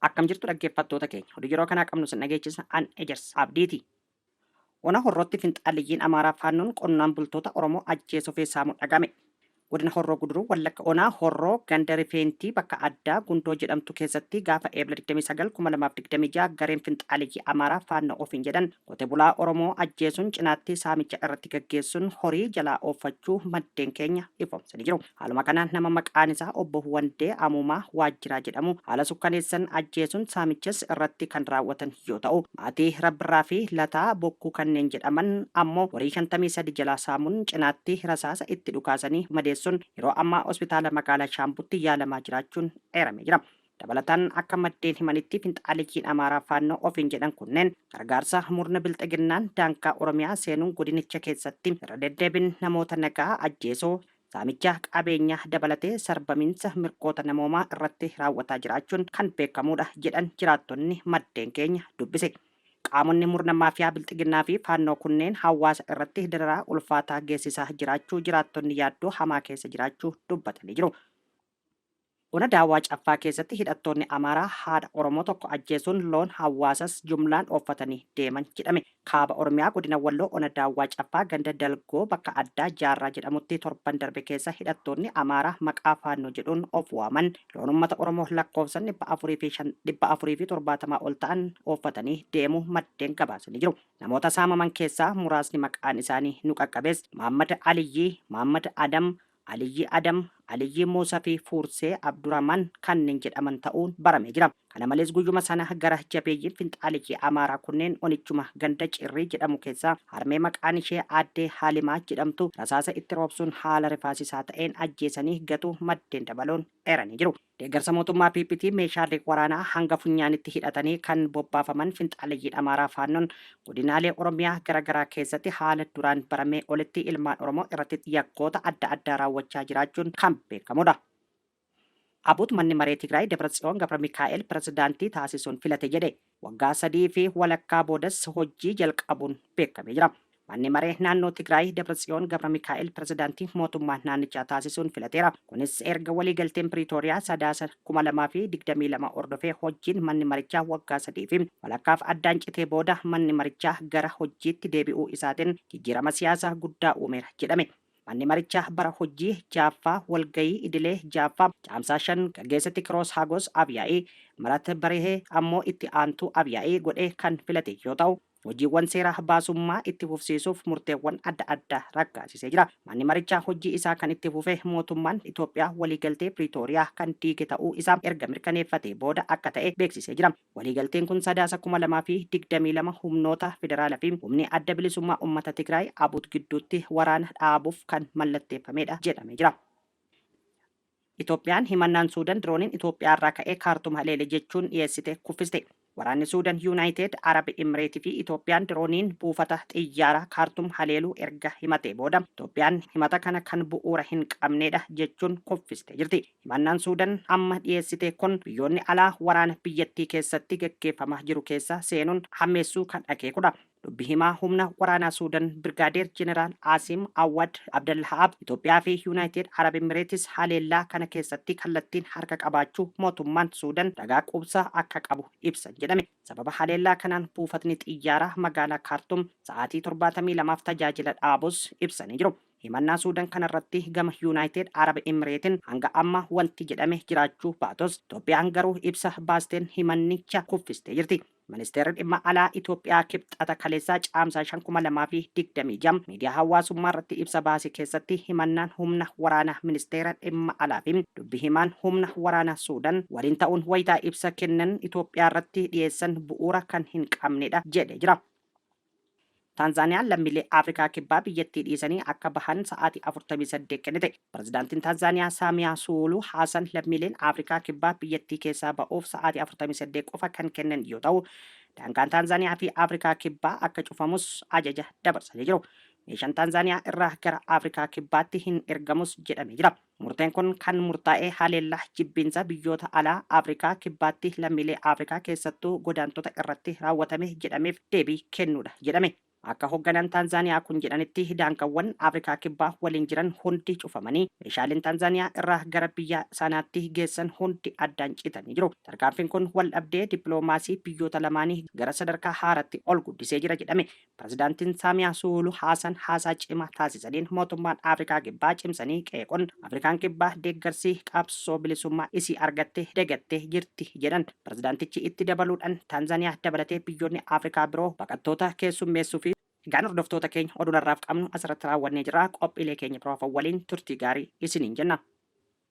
Akkam jirtu dhaggeeffattoota keenya. Oduu yeroo kanaa qabnu sin dhageechisa an Ejersa Abdiiti. Ona Horrootti finxaaliyyiin Amaaraa Faannoon qonnaan bultoota Oromoo ajjeesuu fi saamuu dhagame. Godina Horroo Guduruu Wallagga Onaa Horroo ganda Rifeentii bakka addaa Gundoo jedhamtu keessatti gaafa Eebla 29,2026 gareen finxaaliyyii Amaaraa Faannoo ofiin jedhan Qote bulaa Oromoo ajjeesuun cinaatti saamicha irratti gaggeessuun horii jalaa ooffachuu maddeen keenya ifoomsanii jiru. Haaluma kanaan nama maqaan isaa Obbo Wandee Amuumaa Waajjiraa jedhamu haala sukkaneessan ajjeesuun saamichas irratti kan raawwatan yoo ta'u, maatii Rabbirraa fi Lataa Bokkuu kanneen jedhaman ammoo horii 53 jalaa saamuun cinaatti rasaasa itti dhukaasanii madeessuun yeroo ammaa hospitaala magaalaa Shaambutti yaalamaa jiraachuun eeramee jira. Dabalataan akka maddeen himanitti finxaaleeyyiin Amaaraa Faannoo ofiin jedhan kunneen gargaarsa murna bilxiginnaan daangaa Oromiyaa seenuun godinicha keessatti irra deddeebiin namoota nagaa ajjeesuu, saamicha qabeenyaa dabalatee sarbamiinsa mirgoota namoomaa irratti raawwataa jiraachuun kan beekamuudha jedhan jiraattonni maddeen keenya dubbise. Qaamonni murna maafiyaa bilxiginnaa fi Faannoo kunneen hawaasa irratti dararaa ulfaataa geessisaa jiraachuu jiraattonni yaaddoo hamaa keessa jiraachuu dubbatanii jiru. Ona Daawwaa Caffaa keessatti hidhattoonni Amaaraa haadha Oromoo tokko ajjeesuun loon hawaasas jumlaan ooffatanii deeman jedhame. Kaaba Oromiyaa Godina Walloo Ona Daawwaa Caffaa ganda Dalgoo bakka addaa Jaarraa jedhamutti torban darbe keessa hidhattoonni Amaaraa maqaa Faannoo jedhuun of waaman loon ummata Oromoo lakkoofsan 470 ol ta'an ooffatanii deemuu maddeen gabaasanii jiru. Namoota saamaman keessaa muraasni maqaan isaanii nu qaqqabes Maammad Aliyyii, Maammad Adam, Aliyyii Adam, Aliyyii Muusa fi Fuursee Abduraman kanneen jedhaman ta'uun baramee jira. Kana malees guyyuma sana gara jabeeyyiin finxaaleyyii Amaaraa kunneen onichuma ganda Cirrii jedhamu keessaa harmee maqaan ishee Aaddee Haalimaa jedhamtu rasaasa itti roobsuun haala rifaasisaa ta'een ajjeesanii gatuu maddeen dabaluun eeranii jiru. Deeggarsa mootummaa PPtiin meeshaalee waraanaa hanga funyaanitti hidhatanii kan bobbaafaman finxaaleyyiin Amaaraa Faannoon godinaalee Oromiyaa gara garaa keessatti haala duraan baramee olitti ilmaan Oromoo irratti yakkoota adda addaa raawwachaa jiraachuun kan beekamudha. ABUT Manni Maree Tigraay Dabratsiyoon Gabramikaa'el pirezidaantii taasisuun filate jedhe. Waggaa sadii fi walakkaa boodas hojjii jalqabuun beekamee jira. Manni maree naannoo Tigraay Dabratsiyoon Gabramikaa'el pirezidaantii mootummaa naannichaa taasisuun filateera. Kunis erga waliigalteen Piriitooriyaa Sadaasa 2022 hordofee hojjiin manni marichaa waggaa sadii fi walakkaaf addaan citee booda manni marichaa gara hojjiitti deebi'uu isaatiin jijjiirama siyaasaa guddaa uumeera jedhame. Manni marichaa bara hojjii 6ffaa walgayii idilee 6ffaa Caamsaa 5 gaggeessetti Kiroos Hagos Afyaa'ii, Mirat Barihee ammoo itti aantuu Afyaa'ii godhee kan filate yoo ta'u, hojiiwwan seera baasummaa itti fufsiisuuf murteewwan adda addaa raggaasisee jira. Manni marichaa hojjii isaa kan itti fufe mootummaan Itoophiyaa waliigaltee Piriitooriyaa kan diige ta'uu isaa erga mirkaneeffatee booda akka ta'e beeksisee jira. Waliigalteen kun Sadaasa 2022 humnoota federaalaa fi Humni Adda Bilisummaa Ummata Tigraay, ABUT, gidduutti waraana dhaabuuf kan mallatteeffamedha jedhamee jira. Itoophiyaan himannaan Suudan dirooniin Itoophiyaarraa ka'ee Kaartum haleele jechuun dhiyeessite kuffiste. Waraanni Suudan, Yuunaayiteed Arab Imireetii fi Itoophiyaan dirooniin buufata xiyyaaraa Kaartum haleeluu erga himatee booda, Itoophiyaan himata kana kan bu'uura hin qabnedha jechuun kuffistee jirti. Himannaan Suudan amma dhiyeessite kun biyyoonni alaa waraana biyyattii keessatti gaggeeffamaa jiru keessa seenuun hammeessuu kan akeekudha. Dubbi himaa humna waraanaa Suudan Birgaadeer Jeneraal Aasiim Awwad Abdallah'aab Itoophiyaa fi Yunaayitid Arab Emireetis haleellaa kana keessatti kallattiin harka qabaachuu mootummaan Suudan ragaa quubsaa akka qabu ibsan jedhame. Sababa haleellaa kanaan buufatni xiyyaaraa magaalaa Kaartum sa'aatii 72f tajaajila dhaabus ibsanii jiru. Himannaa Suudan kanarratti gama Yunaayitid Arab Emireetin hanga amma wanti jedhame jiraachuu baatus Itoophiyaan garuu ibsa baasteen himannicha kuffistee jirti. Ministeerri Dhimma Alaa Itoophiyaa Kibxata kaleessaa Caamsaa 5, 2026 miidiyaa hawaasummaarratti ibsa baase keessatti himannaan humna waraanaa Ministeera Dhimma Alaafi dubbi himaan humna waraanaa Suudan waliin ta'uun wayita ibsa kennan Itoophiyaarratti dhiyeessan bu'uura kan hin qabnedha jedhee jira. Taanzaaniyaan lammiilee Afrikaa Kibbaa biyyattii dhiisanii akka bahan sa'aatii 48 kennite. Pirezidaantiin Taanzaaniyaa Saamiyaa Suwuluu Haasan lammiileen Afrikaa Kibbaa biyyattii keessaa ba'uuf sa'aatii 48 qofa kan kennan yoo ta'u, daangaan Taanzaaniyaa fi Afrikaa Kibbaa akka cufamus ajaja dabarsanii jiru. Meeshaan Taanzaaniyaa irraa gara Afrikaa Kibbaatti hin ergamus jedhamee jira. Murteen kun kan murtaa'e haleellaa jibbiinsa biyyoota alaa Afrikaa Kibbaatti lammiilee Afrikaa keessattuu godaantota irratti raawwatame jedhameef deebii kennuudha jedhame. Akka hogganaan Taanzaaniyaa kun jedhanitti daangawwan Afrikaa Kibbaa waliin jiran hundi cufamanii, meeshaaleen Taanzaaniyaa irraa gara biyya sanaatti geessan hundi addaan citanii jiru. Tarkaanfiin kun waldhabdee dippiloomaasii biyyoota lamaanii gara sadarkaa haaraatti ol guddisee jira jedhame. Pirezidaantiin Saamiyaa Suuluuh Haasan haasaa cimaa taasisaniin mootummaan Afrikaa Kibbaa cimsanii qeequn Afrikaan Kibbaa deeggarsii qabsoo bilisummaa isii argatte degattee jirti jedhan. Pirezidaantichi itti dabaluudhan Taanzaniyaa dabalatee biyyoonni Afrikaa biroo baqattoota keessummeessufi. Egaan hordoftoota keenya oduun har'aaf qabnu asirratti raawwannee jirra. Qophiilee keenya biroof waliin turtii gaarii isiniin jenna.